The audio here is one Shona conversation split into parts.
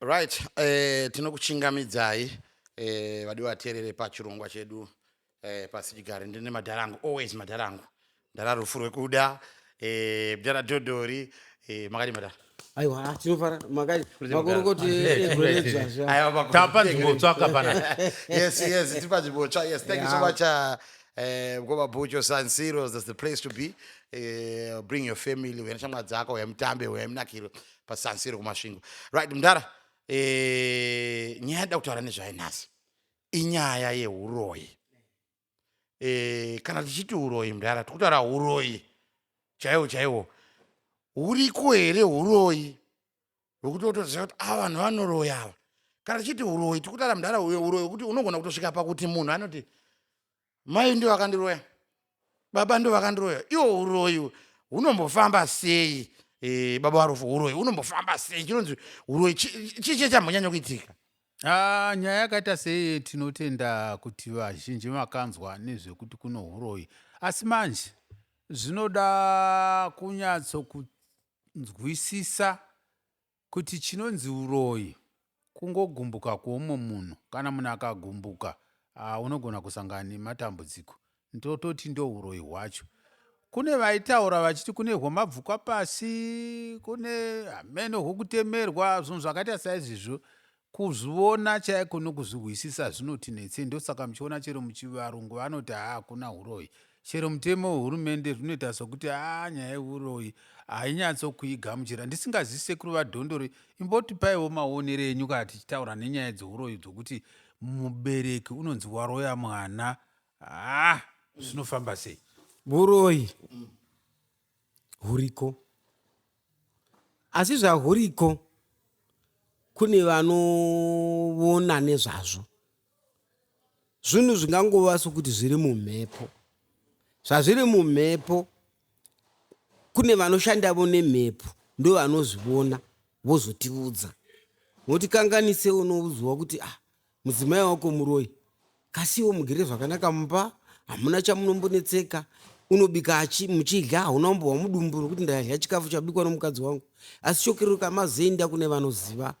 Right, eh, tinokuchingamidzai eh, vadiwa vateerere pachirongwa chedu eh, pasichigare ndine madhara angu always madhara angu ndara rufu rwekuda eh, mdara dhodhori eh, makadi madhara aiwa ah, tinofara makadi makorokoti egoedzvazva Aiwa, pakuru- tapa nzvimbotswa hapana yes yes tipa nzvimbotsva yes thank you so Yeah. much uh, Eh, mkoma bhucho san siros thats the place to be eh, bring your family uya neshamwa dzako uya mutambe uya munakiro pasan siro kumasvingo right mdara eh, nyaya yada kutaura nezvayo nhasi inyaya yeuroyi eh, kana tichiti uroyi mdara tikutaura uroyi chaiwo chaiwo huriko here uroyi wekuti wotoziva kuti ava vanhu vanoroya ava kana tichiti uroyi tiri kutaura mudhara uyo uroyi wekuti unogona kutosvika pakuti munhu anoti mai ndo vakandiroya baba ndo vakandiroya iwo uroyi hunombofamba sei e, baba varufu uroyi unombofamba sei chinonzi uroyi chii chie chambonyanya kuitika Ah, nyaya yakaita seiye tinotenda kuti vazhinji makanzwa nezvekuti kuno uroyi asi manje zvinoda kunyatso nzwisisa kuti chinonzi uroyi kungogumbuka kweumwe munhu kana munhu akagumbuka ah, unogona kusangana nematambudziko ndototi ndouroyi hwacho kune vaitaura vachiti kune hwemabvukwa pasi kune hameno hwekutemerwa zvinhu zvakaita saizvizvo Kuzviona chaiko nokuzvihwisisa zvinoti netsei ndosaka muchiona chero muchivarungu vanoti haa hakuna huroyi. Chero mutemo wehurumende zvinoita sokuti haa nyaya yehuroyi hainyatsokuigamuchira. Ndisingazivi sekuru vaDhondori imbotipaiwo maonero enyu kana tichitaura nenyaya dzehuroyi dzokuti mubereki unonzi waroya mwana haa zvinofamba sei. Huroyi huriko. Asi zvahuriko kune vanoona nezvazvo zvinhu zvingangova sokuti zviri mumhepo zvazviri mumhepo kune vanoshandavo nemhepo ndo vanozviona vozotiudza nokuti kanganise unouziwa kuti ah mudzimai wako muroi kasiwo mugere zvakanaka mumba hamuna chamunombonetseka unobika achi muchidya hauna umbohwa mudumbu nokuti ndadya chikafu chabikwa nomukadzi wangu asi shokiruka mazoenda kune vanoziva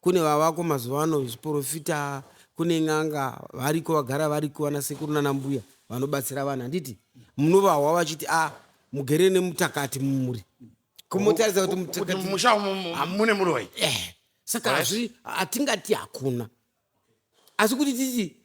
kune vavako mazuva ano zviporofita kune n'anga variko vagara variko vana sekuru nana mbuya vanobatsira vanhu handiti munovahwa vachiti a ah, mugere nemutakati mumuri kumutaridza kuti Kuti mutakati mumusha umu mu- Ah. mune muroyi Eh, saka Right. hazvi hatingati hakuna asi kuti titi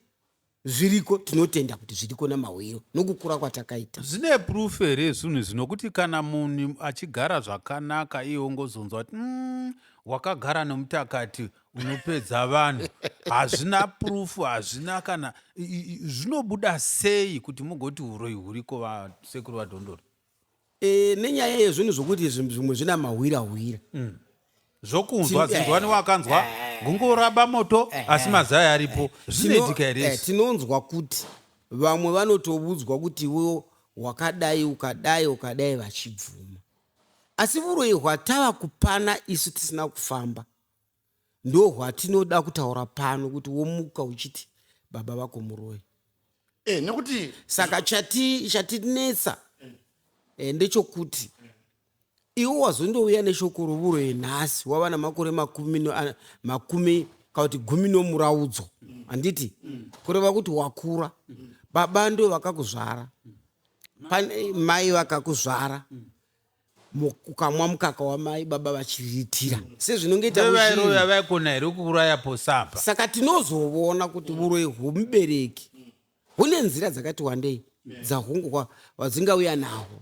zviriko tinotenda kuti zviriko namahwiro nokukura kwatakaita zvine proof here zvinhu izvi nokuti kana munhu achigara zvakanaka iye ongozonzwa kuti "Mm, wakagara nomutakati unopedza vanhu hazvina proof hazvina kana i- i- i- zvinobuda sei kuti mugoti uroyi huriko vasekuru vadhondoro Eh, nenyaya yezvinhu zvokuti zvinhu zvimwe zvina mahwira hwira zvokunzwa Ti- zinzwani wakanzwa gungu raba moto asi mazai aripo zvinoitika here eh, izvi? tinonzwa kuti vamwe vanotovudzwa kuti iwewo wakadai ukadai ukadai vachibvuma asi vuroyi hwatava kupana isu tisina kufamba ndohwatinoda kutaura pano kuti womuka uchiti baba vako muroyi e, nekuti saka chati chatinetsa e, ndechokuti iwo wazondouya neshoko rovuro yenhasi wava namakore makumi makumi kana kuti gumi nomuraudzo handiti kureva kuti wakura baba ndo vakakuzvara pane mai vakakuzvara Mu- ukamwa mukaka wamai baba vachiriritira sezvinongoita Vevai muzhinji. roya vaikona here kuuraya posapa. saka tinozovona kuti uroyi hwomubereki hune nzira dzakati wandei dzahungu kwa- wadzingauya nahwo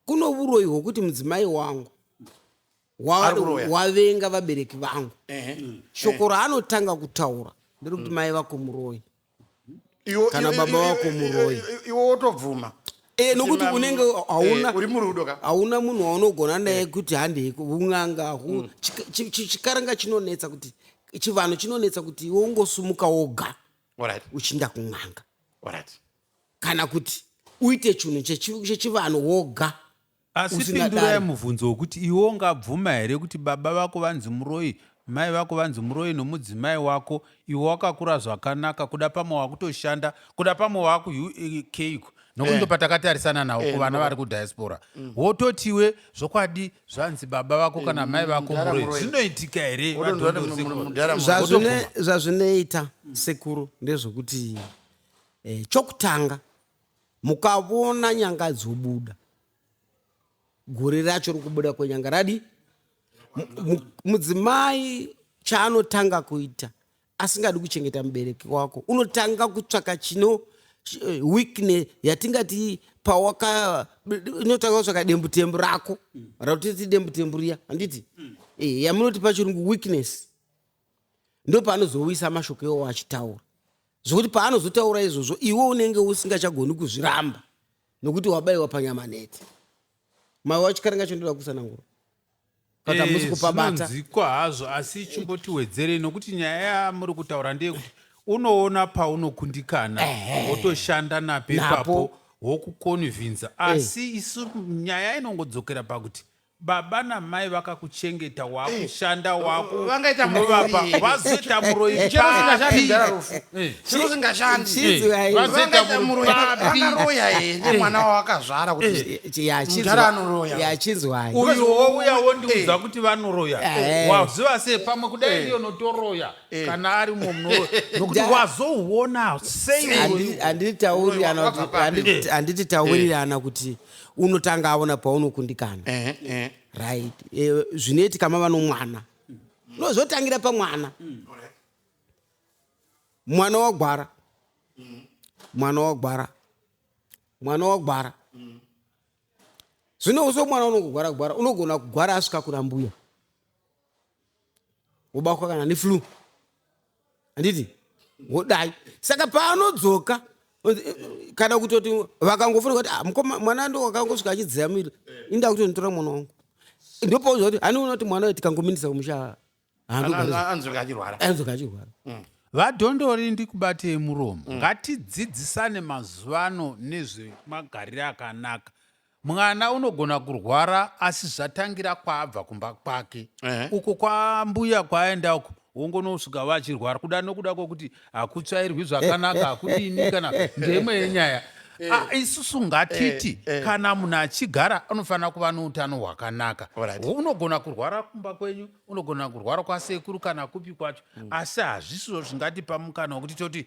kuno uroyi hwokuti mudzimai wangu wa- Ari kuroya. wavenga vabereki vangu Ehe. shoko raanotanga kutaura nderekuti mai vako muroyi kana baba wako muroi iwo wotobvuma Eh, nokuti unenge eh, uri murudo ka hauna munhu waunogona naye eh. kuti handei un'anga mm. chikaranga chinonetsa kuti chivanhu chinonetsa kuti iwe ungosumuka woga uchinda kun'anga kana kuti uite chinhu chechivanhu woga Asi pindura yemubvunzo wokuti iwe ungabvuma here kuti baba vako vanzi muroi, mai vako vanzi muroi nomudzimai wako, iwe wakakura zvakanaka, kuda pamwe wakutoshanda, kuda pamwe wakuUK iko nokuti eh. ndo patakatarisana nawo eh, kuvana vari kudiaspora mm. wototiwe zvokwadi zvanzi baba vako kana eh, mai vako muroi zvinoitika here zvazvinoita sekuru ndezvokuti chokutanga mukavona nyanga dzobuda gore racho rikubuda kwenyanga radi mudzimai chaanotanga kuita asingadi kuchengeta mubereki wako unotanga kutsvaka chino eh, weakne yatingati pawaka inotanga kutsvaka dembutembu rako ratoti dembutembu riya handiti mm. eh, yamunoti pachirungu weakness ndopaanozowisa mashoko iwawo achitaura zvekuti paanozotaura izvozvo iwe unenge usingachagoni kuzviramba nokuti wabaiwa panyama neti mai wacho karinga chindoda kusanangura but hamusi eh, kupabata zvinonzikwa hazvo asi chimbotiwedzerei nokuti nyaya yamuri kutaura ndeyekuti unoona paunokundikana wotoshanda napo ipapo wokukonvhinza eh. asi isu nyaya inongodzokera pakuti Baba namai vakakuchengeta wakushanda eh, wako vangaita munovapa vazoita muroyi papivangaitamuroivangaroya here eh. mwana wawakazvara kutiachinzwai uyo wouya wondiudza eh. kuti vanoroya waziva sei pamwe kudai ndiyo notoroya kana ari mumwe munoroya nokuti wazouona sei andititaurirana kuti unotanga aona paunokundikana uh -huh, uh -huh. right e, zvinoitika mava nomwana no zvotangira pamwana mwana wagwara mwana wagwara mwana wagwara zvino uso mwana unongogwara gwara unogona kugwara asvika kuna mbuya wobatwa kana neflu handiti wodai saka paanodzoka kana kutoti vakangofona kuti ah, mukoma mwana ndo wakangosvika achidziya miri inda kuti nditora mwana wangu ndopauza kuti hani unoti mwana tikangominisa kumusha anzoka achirwara anzoka achirwara mm. vadhondori ndikubatei muromo mm. ngatidzidzisane mazuvano nezvemagariro akanaka Mwana unogona kurwara asi zvatangira kwaabva kumba kwake Ehe. uko kwambuya kwaaenda uko wongonosvika vachirwara kuda nokuda kwokuti hakutsvairwi zvakanaka hakudini kana ndeimwe yenyaya Ah, isusu ngatiti kana munhu achigara anofanira kuva noutano hwakanaka Alright. unogona kurwara kumba kwenyu unogona kurwara kwasekuru kana kupi kwacho asi hazvisiwo zvingatipa mukana wokuti toti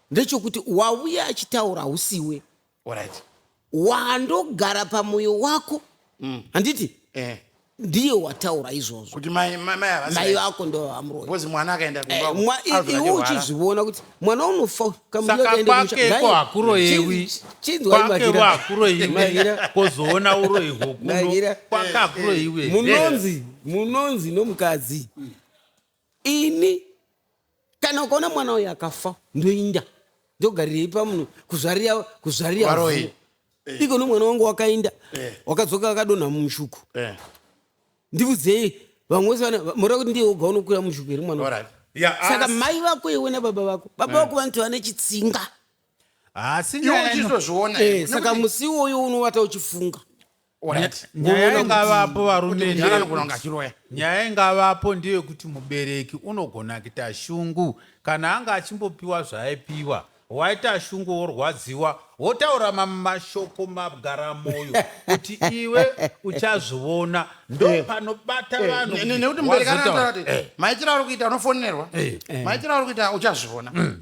ndechokuti wauya achitaura hausiwe right. wandogara pamoyo wako mm. handiti mm. eh. ndiye wataura izvozvo kuti mai vako ndovamuroiuzi mwana akaenda eh, uchizviona kuti mwana unofa kamuaendeko hakuroyewi kozoona uroyi hwokuno kwakakuroyiwe munonzi munonzi nomukadzi mm. ini kana ukaona mwana uyu akafa ndoinda ndogarirei pamunhu kuzvarira kuzvarira Varoyi. vhu. Eh. iko nomwana wangu wakainda Eh. wakadzoka akadonha mumushuku Eh, ndiudzei vamwe vose vana mora kuti ndiye woga unokwira mushuku here mwana wangu? alright. Ya, saka asi- mai vako iwe nababa vako baba vako vanoti vane chitsinga asi Iwe nyaya ino- uchizozviona Eh, here? saka Nekuti- musi iwoyo unovata uchifunga nyaya ingavapo varume nyaya ingavapo ndeyekuti mubereki unogona kuita shungu kana anga achimbopiwa zvaaipiwa waita shungu worwadziwa wotaura mamwe mashoko magara moyo kuti iwe uchazviona ndo eh. panobata eh. vanhunekuti mubereki anaaati eh. maitiro ari kuita unofonerwa maitiro ari kuita uchazviona mm.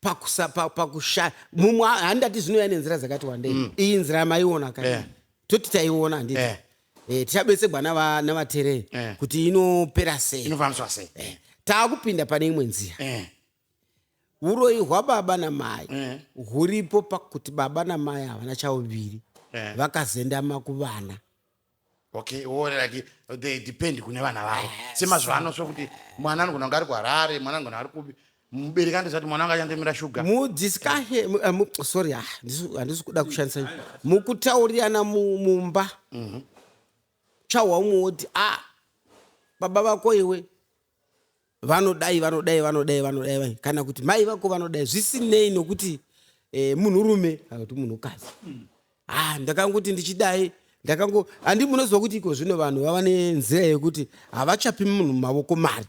pakusa pa- pakushaya mumwe ha- handati zvinouya nenzira dzakati wandei mm. iyi nzira yamaiona ka Eh. toti taiona handiti Eh. eh, tichabetsegwa nava- navaterei Eh. kuti inopera sei inofambiswa sei Eh, taakupinda pane imwe nzira eh, uroyi hwababa namai Eh. huripo pakuti baba namai havana chauviri Eh. vakazendama kuvana okay or like they depend kune vana vavo semazuva ano sokuti mwana anogona kunge ari kuharare mwana anogona ari kupi mubereki andizati mwana anga achandemera shuga mudiscussion eh, mu- sorry ah, ndisu- handisi kuda kushandisa mukutaurirana mu- mumba Mhm. chahwa umwe woti a baba vako iwe vanodai vanodai vanodai vanodai vai kana kuti mai vako vanodai zvisinei nokuti eh, munhurume kana kuti munhukadzi ah, ndakangoti ndichidai ndakango handi munoziva kuti iko zvino vanhu vava nenzira yekuti havachapi munhu mavoko mari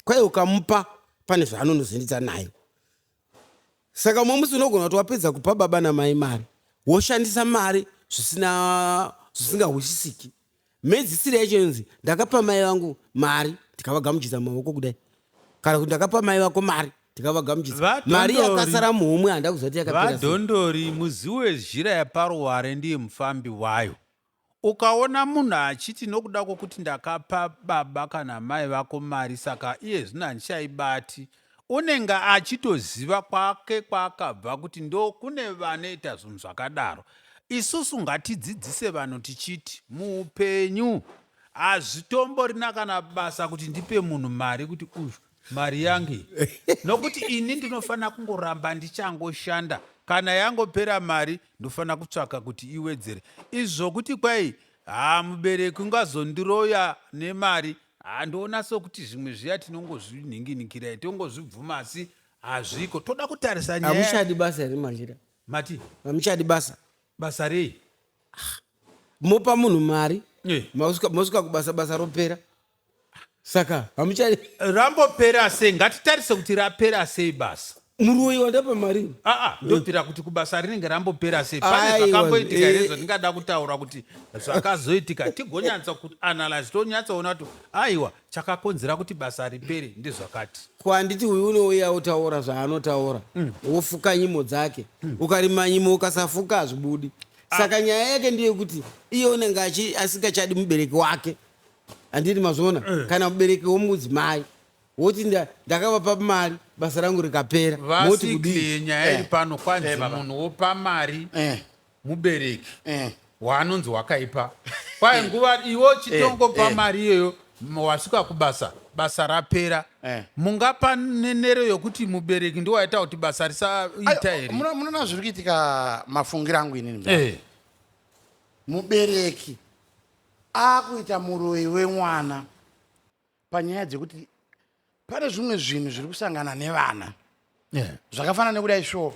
kwaye ukamupa pane zvaanonozendidza nayo saka umwe musi unogona kuti wapedza kupa baba namai mari woshandisa mari zvisina zvisingahwisisiki mhedzisiro yacho inonzi ndakapa mai vangu mari ndikavagamuchidza maoko kudai kana kuti ndakapa mai vako mari ndikavagamuchidza mari yakasara muhomwe handa kuzati yakapera vadhondori muzivo wezhira yaparuware ndiye mufambi wayo Ukaona munhu achiti nokuda kwokuti ndakapa baba kana mai vako mari saka iye zvino handichaibati, unenge achitoziva kwake kwaakabva kuti ndokune vanoita zvinhu zvakadaro. Isusu ngatidzidzise vanhu tichiti muupenyu hazvitomborina kana basa kuti ndipe munhu mari kuti uyu mari yangu iyi nokuti ini ndinofanira kungoramba ndichangoshanda kana yangopera mari ndofanira kutsvaka kuti iwedzere izvo kuti kwai haa mubereki ungazondiroya nemari handiona sokuti zvimwe zviya tinongozvinhinginikirai tongozvibvuma asi hazviko toda kutarisa nyaya hamuchadi basa here machira mati hamuchadi basa basa rei mopa munhu mari Eh. mosvika mosvika kubasa basa ropera saka hamuchari rambopera sei ngatitarise kuti rapera sei basa muroyi wandapa mari aa ndobvira kuti kubasa rinenge rambopera sei pane Aiwa, zvakamboitika here eh. zvandingada kutaura kuti zvakazoitika tigonyatsa kuti analyze tonyatsaona kuti aiwa chakakonzera kuti basa ripere ndezvakati ko handiti uyu unouya otaura zvaanotaura wofuka nyimo dzake ukarima nyimo ukasafuka hazvibudi saka nyaya yake ndeyekuti iye unenge achi- asingachadi mubereki wake handiti mazviona eh. kana mubereki womudzimai woti ndakavapa mari basa rangu rikapera vasikle nyaya iri eh. pano kwanzi eh, munhu wopa mari mubereki waanonzi wakaipa kwaye nguva iwo chitongopa mari iyoyo wasvika kubasa basa rapera eh. mungapa nenero yokuti mubereki ndiwo aita kuti basa risaita here munoona zviri kuitika mafungiro angu inini eh. mubereki akuita muroyi wemwana panyaya dzekuti pane zvimwe zvinhu zviri kusangana nevana yeah. zvakafanana nekudai sure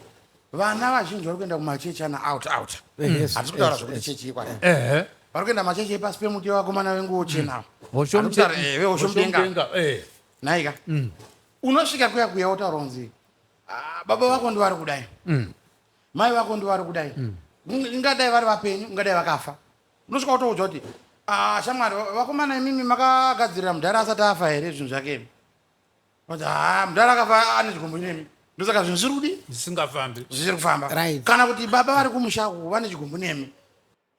vana vazhinji vari kuenda kumachechi ana out out hatisi mm. kutaura zvekuti chechi yekwai vari kuenda machechi epasi pemuti wevakomana venguo chenavo hoshomudenga naika unosvika kuya kuya wotaura kunzi ah, baba vako ndivari kudai mm. mai vako ndivari kudai mm. ingadai vari vapenyu ingadai vakafa unosvika wotoudzwa kuti ah, shamwari vakomana imimi makagadzirira mudhara asati afa here zvinhu zvake imi kuti ha ah, mudhara akafa ane chigumbu nemi ndosaka zvinhu zviri kudi zvisingafambi zvisiri kufamba right. kana kuti baba vari kumusha uku vane chigumbu nemi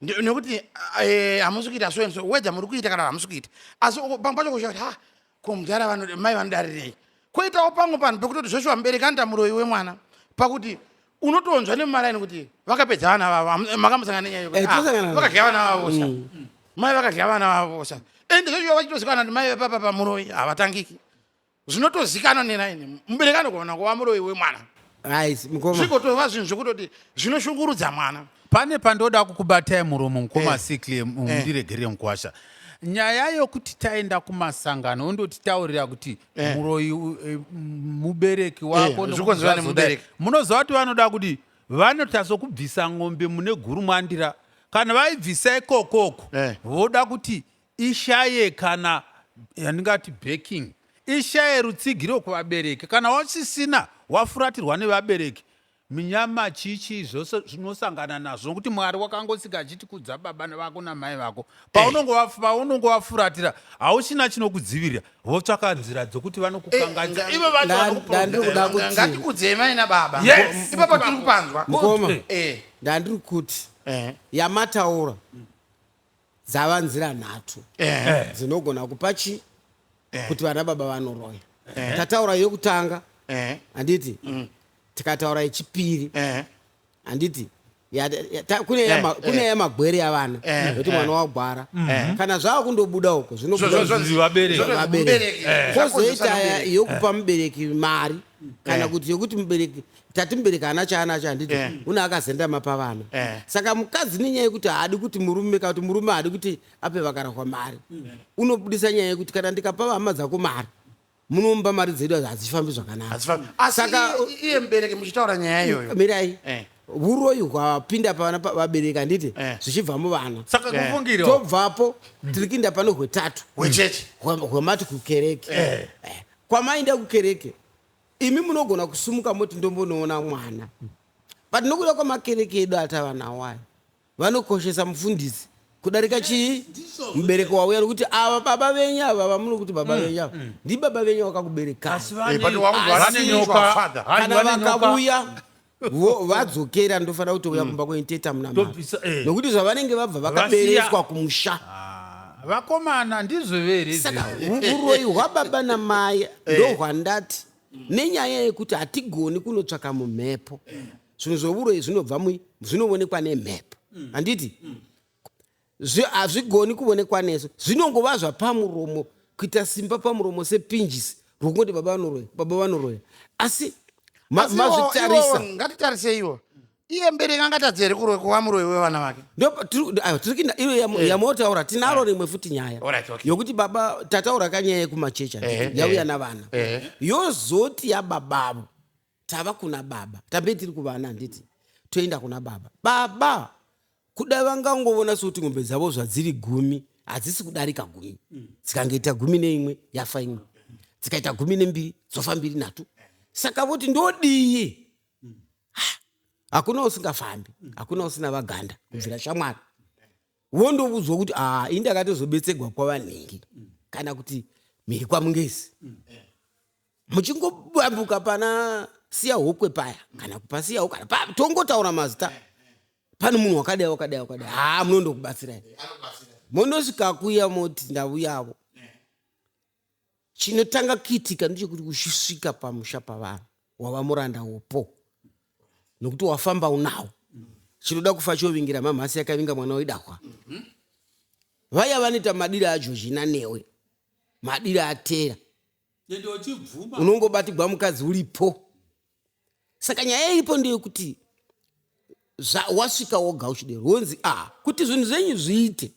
nekuti eh, hamusi kuita so and so wedha muri kuita kana hamusi kuita asi pamwe pacho kushaa kuti ha ko mudhara vanoda mai vanodarirei koitawo pamwe panhu pekutoti zveshuwa mubereki anoita muroyi wemwana pakuti unotonzwa nemumaraini kuti vakapedza vana vavo Hamu- makamusangana nenyaya Eh, tosangana nayo. vakadya vana vavo sa mai vakadya vana vavo sa ende zveshuwa vachitozikanwa kuti mai vepapa pamuroyi havatangiki zvinotozikanwa neraini mubereki anogona kuva muroyi wemwana Guys, mukoma. zvigotova zvinhu zvekutoti zvinoshungurudza mwana pane pandoda kukubatai muromo mukoma Eh. sikle Eh. mundiregerere mukwasha nyaya yokuti taenda kumasangano ondotitaurira kuti Eh. muroyi u- eh, m- mubereki wako Eh, nokuti zvikonzerwa zvazoda- nemubereki. munoziva kuti vanoda kuti vanotaso kubvisa ng'ombe mune guru mwandira kana vaibvisa ikokoko Eh. voda kuti ishaye kana yandingati backing ishaye rutsigiro kuvabereki kana wasisina wafuratirwa nevabereki minyama chichi zvose zvinosangana nazvo nokuti mwari wakangosika achiti kudza baba vako namai vako paunonge wafuratira hauchina chinokudzivirira votsvaka nzira dzokuti vanokukangaisa Eh, ivo vacho nda- vanokupa ndandiri kuda kuti Nga- ngatikudzei mai nababa Yes. ipapo tiri kupanzwa mukoma Eh. ndandiri kuti Eh. yamataura dzava nzira nhatu Eh. dzinogona kupa chi kuti vana baba vanoroya tataura yokutanga Eh. handiti tikataura yechipiri Eh. handiti Ya- ya- ta- kune Eh, yama- kune eh. yamagwere yavana Eh, yekuti eh. mwana wagwara kana zvava kundobuda uko Zvo- zvo- zvo- zvinobuda zvo- Vabereki. zvo- vabereki mubereki. Eh. Zvakonzeresa kozoita mubereki. yokupa mubereki mari kana kuti yokuti mubereki tati mubereki haana chaanacho handiti yeah. una akazendama pavana yeah. saka mukadzi nenyaya yekuti haadi kuti murume kana kuti murume haadi kuti ape vakarahwa mari mm. unobudisa nyaya yekuti kana ndikapa vahama dzako mari munomba mari dzedu hadzifambi zvakanakasaka iye mubereki muchitaura nyaya iyoyo mirai eh. uroyi hwapinda pavana vabereki handiti eh. zvichibva muvana eh. tobvapo tiri kuinda pano hwetatu hwemati kukereke kwamainda kukereke imi munogona kusumuka moti ndombonoona mwana but nokuda kwamakereke edu atava nawo ayo vanokoshesa mufundisi kudarika chii mubereki wauya nokuti ava baba venyu ava vamuno kuti baba venyu ava ndibaba venyu vakakuberekai Eh, but wakuti vane Asi- nyoka, father. Hanzi kana vane nyoka. vakauya Vo- vadzokera ndofanira kutouya kumba kwenyu tete amuna mari Tobvisa, eh. nokuti zvavanenge vabva vakabereswa kumusha Ah, vakomana ndizvo vere saka izvezvi. hu- uroyi hwababa namai ndohwandati nenyaya yekuti hatigoni kunotsvaka mumhepo zvinhu zvevuroyi zvinobva mui- zvinoonekwa nemhepo handiti hazvigoni kuonekwa nesu zvinongova zvapamuromo kuita simba pamuromo sepinjisi rwokungoti baba vanoroya baba vanoroya asi mazvitarisa ngatitariseiwo iye mbereki angatadze here kuroya kuva muroyi wevana vake tiri kuinda iyo eh. yamotaura tinaro eh. rimwe futi nyaya yokuti baba tataura kanyaya yekumachecha eh, yauya navana yozoti yababavo tava kuna baba tambe tiri kuvana handiti toenda kuna baba baba kudai vangangovona sokuti ngombe dzavo zvadziri gumi hadzisi kudarika gumi mm. dzikangoita gumi neimwe yafa imwe dzikaita gumi nembiri dzofa mbiri nhatu saka voti ndodii mm. hakuna usingafambi mm. hakuna usina vaganda kubvira shamwari wondoudzwa kuti aa ah, indi akatozobetsegwa kwavanhingi kana kuti mhiri kwamungezi muchingobambuka pana siya hokwe paya kana kupasiya hokwe tongotaura mazita pane munhu wakadai wakadai wakadai haa munondokubatsirai mondosvika kuya moti ndauyavo chinotanga kuitika ndechekuti uchisvika pamusha pavanhu wava muranda wopo nokuti wafamba unawo chinoda kufa chovingira mamhasi yakavinga mwana wedahwa vaya vanoita madiro ajozhina newe madiro atera unongobatigwa mukadzi uripo saka nyaya iripo ndeyekuti wasvika woga uchidero wonzi a ah, kuti zvinhu zvenyu zviite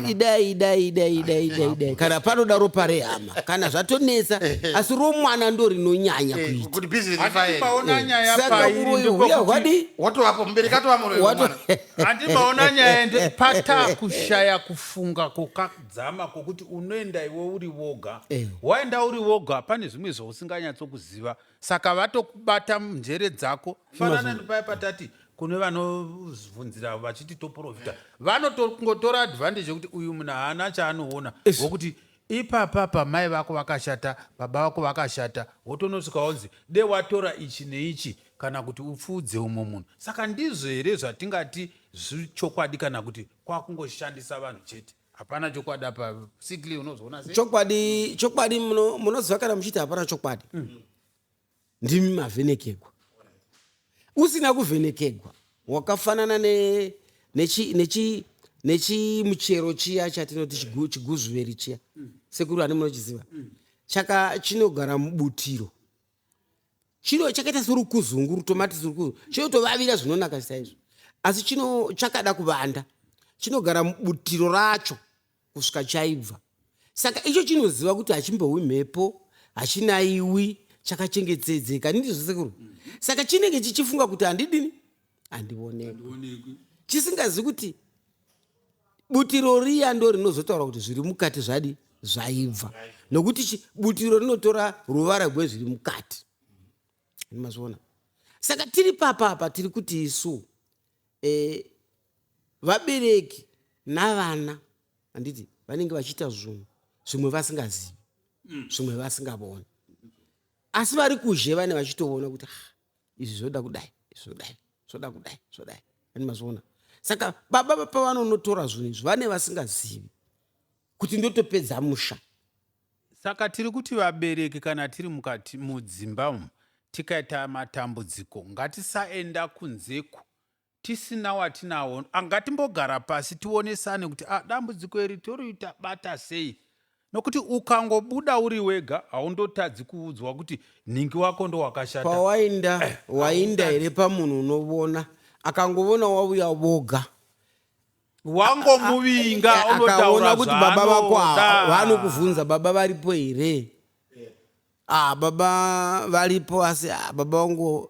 idaiidaiidaiidaiidai kana panoda ropa rehama kana zvatonetsa asi romwana ndo rinonyanya eh, kuitaaka uroihuya hwadi watoapomuberekatovamurwewatoandimaona nyaya nde pata kushaya kufunga koka dzama kwokuti unoenda iwe uri woga eh. waenda uri woga pane zvimwe zvausinganyatsokuziva saka vatokubata njere dzako fanana nepaya patati kune vanobvunzira vachiti toprofita vanotongotora advantage yekuti uyu munhu haana chaanoona wokuti ipapa pamai vako vakashata baba vako vakashata wotonosvika wonzi de watora ichi neichi kana kuti upfuudze umwe munhu saka ndizvo here zvatingati Zviri chokwadi kana kuti kwakungoshandisa vanhu chete? Hapana chokwadi apa. Sikli unozoona sei? Chokwadi chokwadi muno munoziva kana muchiti hapana chokwadi. Mm. Ndimi mavhenekegwa. Usina kuvhenekegwa wakafanana ne nechi nechi nechimuchero chiya chatinoti chigu, chiguzuveri chiya. Mm. Sekuru ani munochiziva? Mm. Chaka chinogara mubutiro. chino chakaita sorukuzungu rutomatisi rukuzungu chinotovavira zvinonaka saizvo asi chino chakada kuvanda chinogara mubutiro racho kusvika chaibva saka icho chinoziva kuti hachimbohwi mhepo hachinaiwi chakachengetedzeka ndizvo sekuru saka chinenge chichifunga kuti handidini handionekwi chisingazi kuti butiro riya ndo rinozotaura kuti zviri mukati zvadi zvaibva nokuti butiro rinotora ruvara rwezviri mukati mazviona saka tiri papapa tiri kuti isu e, vabereki navana handiti vanenge vachiita zvunhu zvimwe vasingazivi mm. zvimwe vasingavoni asi vari kuzhe vane vachitoona kuti ah, izvi zvoda kudai zvodai zvoda kudai zvodai ani mazviona saka baba vapavanonotora zvinhu izvi vane vasingazivi kuti ndotopedza musha saka tiri kuti vabereki kana tiri mukati mudzimba umu tikaita matambudziko ngatisaenda kunzeku tisina watinawo angatimbogara pasi tionesane kuti ah, dambudziko iri toriita bata sei nokuti ukangobuda uri wega haundotadzi kuudzwa kuti nhingi wako ndowakashata pawainda eh, wainda here pamunhu unovona akangovona wauya voga wangomuvinga akaona kuti baba vako vanokuvhunza baba varipo here ah, baba varipo asi ah, baba vangu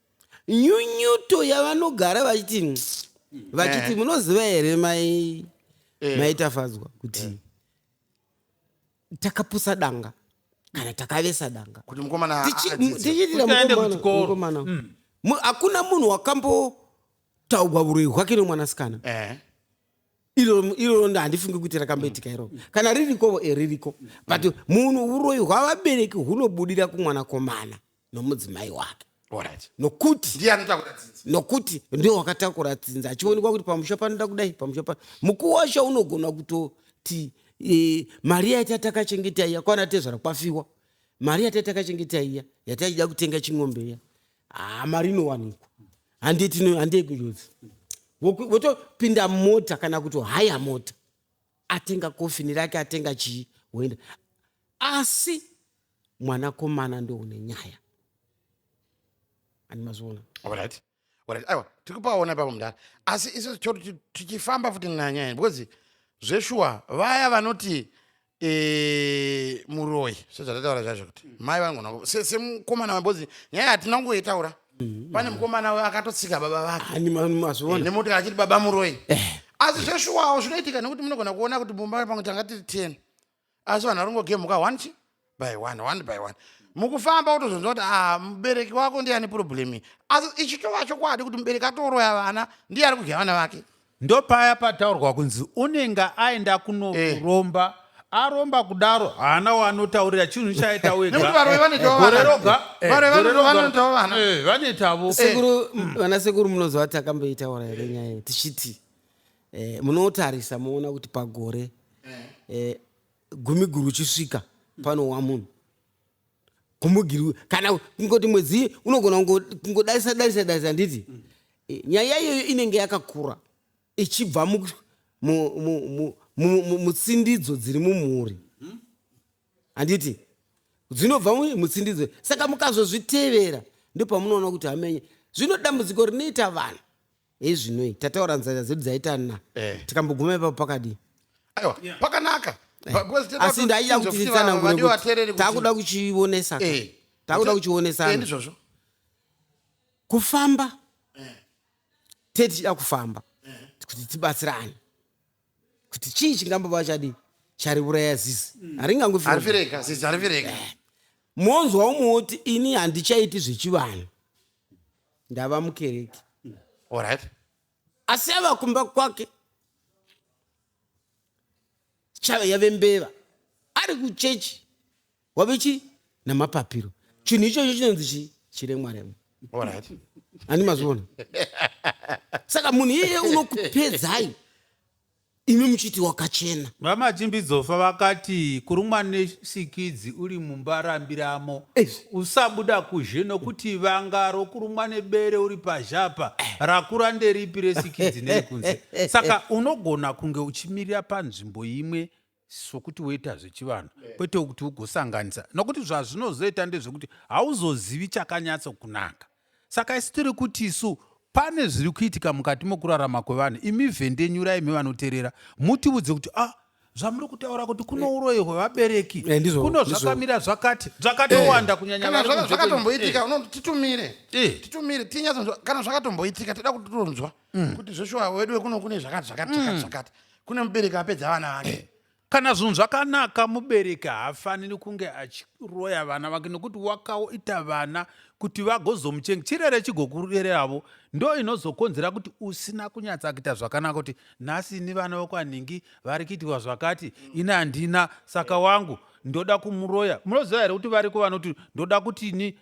nyunyuto yavanogara vachiti vachiti eh. munoziva here mai eh. maitafadzwa kuti eh. takapusa danga kana takavesa danga tichiitiramukomana hmm. hakuna munhu wakambotaugwa vuroi hwake nomwanasikana iroro handifungi kuti rakamboitika hmm. iroro kana ririkovo eririko but hmm. munhu uroyi hwavabereki hunobudira kumwanakomana nomudzimai wake Alright. nokuti Ndiye anotakura dzinza. nokuti ndiwo wakatakura dzinza achionekwa kuti pamusha panoda kudai pamusha pano mukuwo wacho unogona kutoti e, mari yai tatakachengeta iya kwana tezvara kwafiwa mari yatai takachengeta iya yataida kutenga ching'ombe iya haa mari inowanikwa handei tino- handei kunjodzi Woku- wotopinda mota kana kuti haya mota atenga kofini rake atenga chii woenda asi mwana komana ndoune nyaya andimazviona alright alright aiwa tiri kupaona ipapo mudhara asi isu choti tichifamba futi nanyaya because zveshuwa vaya vanoti e, muroyi sezvatataura zvacho kuti mm. mai vanogona semukomana wambozi nyaya hatina kungoitaura mm. pane mukomana uyo akatotsika baba vake nemotokari achiti baba muroyi eh. asi zveshuwawo zvinoitika nekuti munogona kuona kuti mumba pangu tanga tiri ten asi vanhu varingogemhuka one chi by one one by one mukufamba utozonzwa kuti ah, mubereki wako ndiye ane problemi asi ichitova chokwadi kuti mubereki atoroya vana ndiye ari kudya vana vake ndopaya pataurwa kunzi unenge aenda kunoromba eh. aromba kudaro haana waanotaurira chinhu chaaita wegaerogavanetavo eh, eh, sekuru mm. vana sekuru munozovati akamboitaura here nyaya tichiti eh, munotarisa moona kuti pagore eh. Eh, gumi guru chisvika panowa munhu kumugirwi kana kungoti mwedzi unogona kungodarisa darisa darisa handiti mm. eh, nyaya iyoyo inenge yakakura ichibva mutsindidzo dziri mumhuri hmm? handiti dzinobva mutsindidzo saka mukazozvitevera ndopamunoona kuti hamenye zvino dambudziko rinoita vanhu hezvinoi tataura nzara dzedu dzaita na Eh. tikamboguma ipapo pakadii aiwa pakanaka Pa- because tinoda asi kuti ndaida tinzwe kuti kuti va- vadiwa titsanangure vateereri kuti kuti- takuda kuchionesa ka. Eh. takuda Eh, kuchionesana ndizvozvo kufamba tee tichida kufamba kuti tibatsirane kuti chii chingambova chadii chariuraya zizi haringangofi harifireka zizi harifireka monzwa umwe woti ini handichaiti zvechivanhu ndava mukereke olright asi ava kumba kwake chave yave mbeva ari kuchechi wave chi namapapiro chinhu ichocho chinonzi chi chiremwaremwa olright ani mazviona saka munhu iyeye unokupedzai imi muchiti wakachena. VaMachimbidzofa vakati kurumwa nesikidzi uri mumba rambiramo Eish. usabuda kuzhe nokuti vanga rokurumwa nebere uri pazhe apa rakura nderipi resikidzi nerekunze saka unogona kunge uchimirira panzvimbo imwe sokuti woita zvechivanhu yeah. kwete kuti ugosanganisa nokuti zvazvinozoita ndezvekuti hauzozivi chakanyatso kunaka saka isi tiri kuti isu pane zviri kuitika mukati mokurarama kwevanhu imi vhendenyura imi vanoterera mutiudze kuti ah zvamuri kutaura kuti kuno eh. uroyi hwevabereki eh, kuno zvakamira zvakati zvakatowanda eh. kunyanya zvakatomboitika titumire titumire tinyatso kana zvakatomboitika tida kutonzwa mm. kuti zveshuwa wedu wekuno kune zvakati zvakati mm. zvakati kune mubereki apedza vana vake eh. kana zvinhu zvakanaka mubereki haafaniri kunge achiroya vana vake nokuti wakaita vana kuti vagozomuchenga chirere chigokurereravo ndo inozokonzera kuti usina kunyatsa kuita zvakanaka kuti nhasi ini vana vokwanhingi vari kuitirwa zvakati ini handina saka wangu ndoda kumuroya munoziva here kuti variko vanoti ndoda kuti ini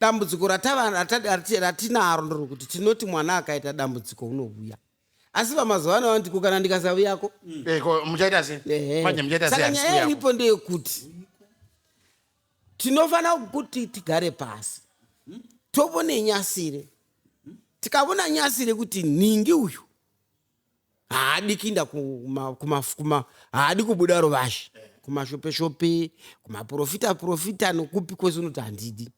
Dambudziko ratava ratinaro nderokuti tinoti mwana akaita dambudziko unouya asi vamazuva ano vandiko kana ndikasavuyako mm. eh, muchaita sesaka nyaya iripo ndeyekuti tinofanira kuti tigare pasi tovone nyasire tikavona nyasire kuti nhingi uyu haadi kuinda kuma, kuma, kuma haadi kubuda ruvazhe kumashope shope kumaprofita profita nokupi kwese unoti handidi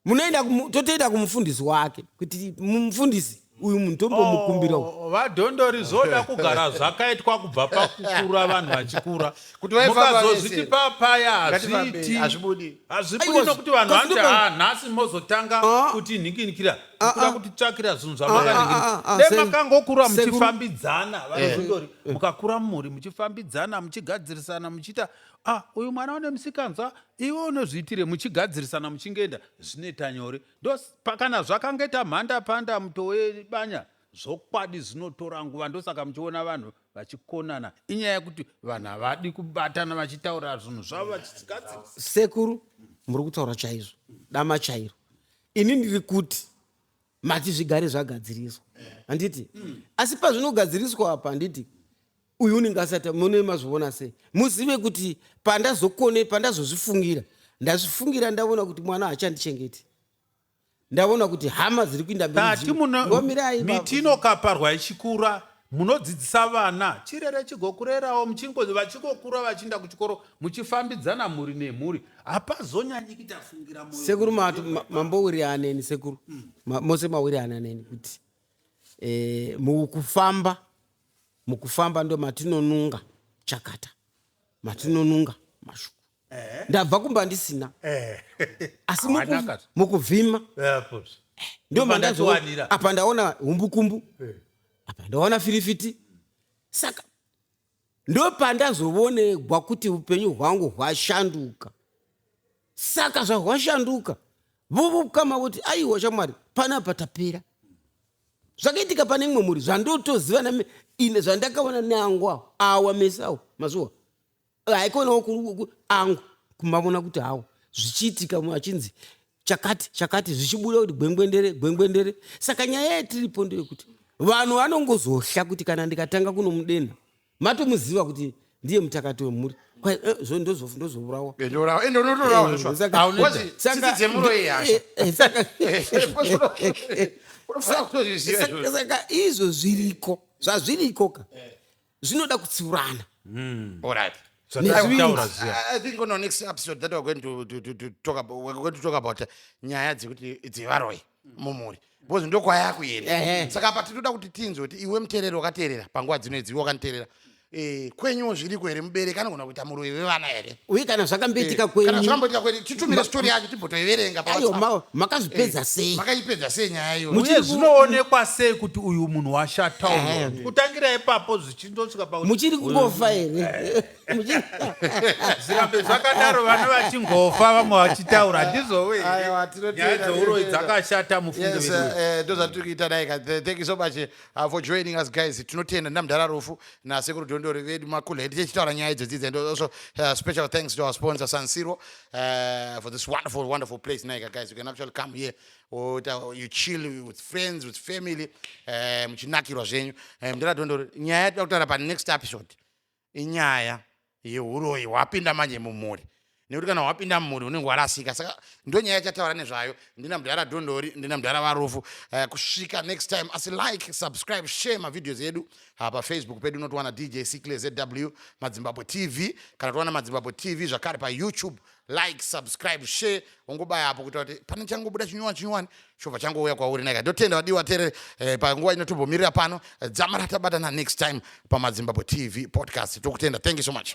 munoenda totoenda kumufundisi wake kuti mufundisi uyu munhu tombomukumbira oh, vadhondori zvoda kugara zvakaitwa kubva pakukura vanhu vachikura kuti vaifambamukazozviti papaya hazviiti hazvibudi hazvibudi nokuti vanhu vanoti ha nhasi mozotanga ah. kuti nhinginikira ah, kuda ah. kuti tsvakira zvinhu zvamakaningiridemakaangokura muchifambidzana vanozondori eh. mukakura mumhuri muchifambidzana muchigadzirisana muchiita a uyu mwana une musikanzwa iwe unozviitire muchigadzirisana muchingeenda zvinoita nyore ndo pakana zvakange tamhanda panda mutowe banya Zvokwadi zvinotora nguva ndosaka muchiona vanhu vachikonana inyaya yekuti vanhu havadi kubatana vachitaura zvinhu zvavo vachigadzirisa sekuru muri kutaura chaizvo dama chairo ini ndiri kuti mati zvigare zvagadziriswa handiti asi pazvinogadziriswa apa handiti uyu unenge asati mune mazvivona sei muzive kuti pandazokone pandazozvifungira ndazvifungira ndavona kuti mwana haachandichengeti ndaona kuti hama dziri kuinda mberi ngomirai miti inokaparwa ichikura munodzidzisa vana chirere chigokurerawo muchingo vachingokura vachiinda kuchikoro muchifambidzana mhuri nemhuri hapazonyanyi kuita fungira moyo sekuru mambowiri aneni sekuru mm. ma, mose mawiri ananeni kuti e, mukufamba mukufamba ndo matinonunga chakata matinonunga mashuku eh. ndabva kumba ndisina eh. asi mukuvhima ndio mandazowanira apa ndaona humbukumbu apa ndaona firifiti saka ndo pandazovonegwa kuti upenyu hwangu hwashanduka saka zvahwashanduka vovokama voti aiwa chamwari panapa tapera zvakaitika pane imwe mhuri zvandotoziva ine zvandakaona neangu awo awa mesi awo mazuwa haikonawo angu kumavona kuti hawo zvichiitika achinzi chakati chakati zvichibuda kuti gwengwendere gwengwendere saka nyaya yatiripo ndeyekuti vanhu vanongozohla kuti kana ndikatanga kunomudenha matomuziva kuti ndiye mutakati wemhuri eh, ndozovurawa eh, eh, saka izvo zviriko zvazviriko ka zvinoda kutsiurana mm. all right So I, I, I think on our next episode that we're going to, to, to, to talk about, we're going to talk about uh, nyaya dzekuti dzevaroi mumhuri because ndokwaya kuenda saka apa tinoda kuti tinzwe kuti iwe muteereri wakateerera panguva dzino idziwe wakaniteerera eh, kwenyuwo zviriko here mubereki anogona kuita muroyi wevana here uye kana zvakamboitika eh, kwenyukana zvakamboitika kwenyu titumire stori yacho timbotoiverenga ayo makazvipedza eh, sei makaipedza sei nyaya iyo uye zvinoonekwa sei kuti uyu munhu washatawo eh. kutangira ipapo zvichindosvika pa muchiri kungofa here zvirambe zvakadaro vana vachingofa vamwe vachitaura ndizowe nyaya dzouroyi dzakashata mufunge vedu ndozvatiri kuita dai ka thank you so much uh, for joining us guys tinotenda namdhara rufu nasekuru dondori vedu macool head tichitaura nyaya idzodzidzi and also uh, special thanks to our sponsor sansiro uh, for this wonderful wonderful place naika guys you can actually come here or uh, you chill with friends with family uh, muchinakirwa zvenyu uh, mdhara dondori nyaya yatida kutaura panext episode inyaya yehuroyi hwapinda manje mumhuri nekuti kana hwapinda mumhuri unenge warasika saka ndo nyaya yachataura nezvayo ndina mudhara dhondori ndina mudhara varufu uh, kusvika next time asi like subscribe share mavideos edu uh, pafacebook pedu unotiwana dj ckle zw madzimbabwe tv kana towana madzimbabwe tv zvakare payoutube like subscribe share ungobaya apo kuita kuti pane changobuda chinyowani chinyowani chobva changouya kwauri neka ndotenda vadiwa tere eh, panguva ino tombomirira pano eh, dzamara tabatana next time pamadzimbabwe tv podcast tokutenda thank you so much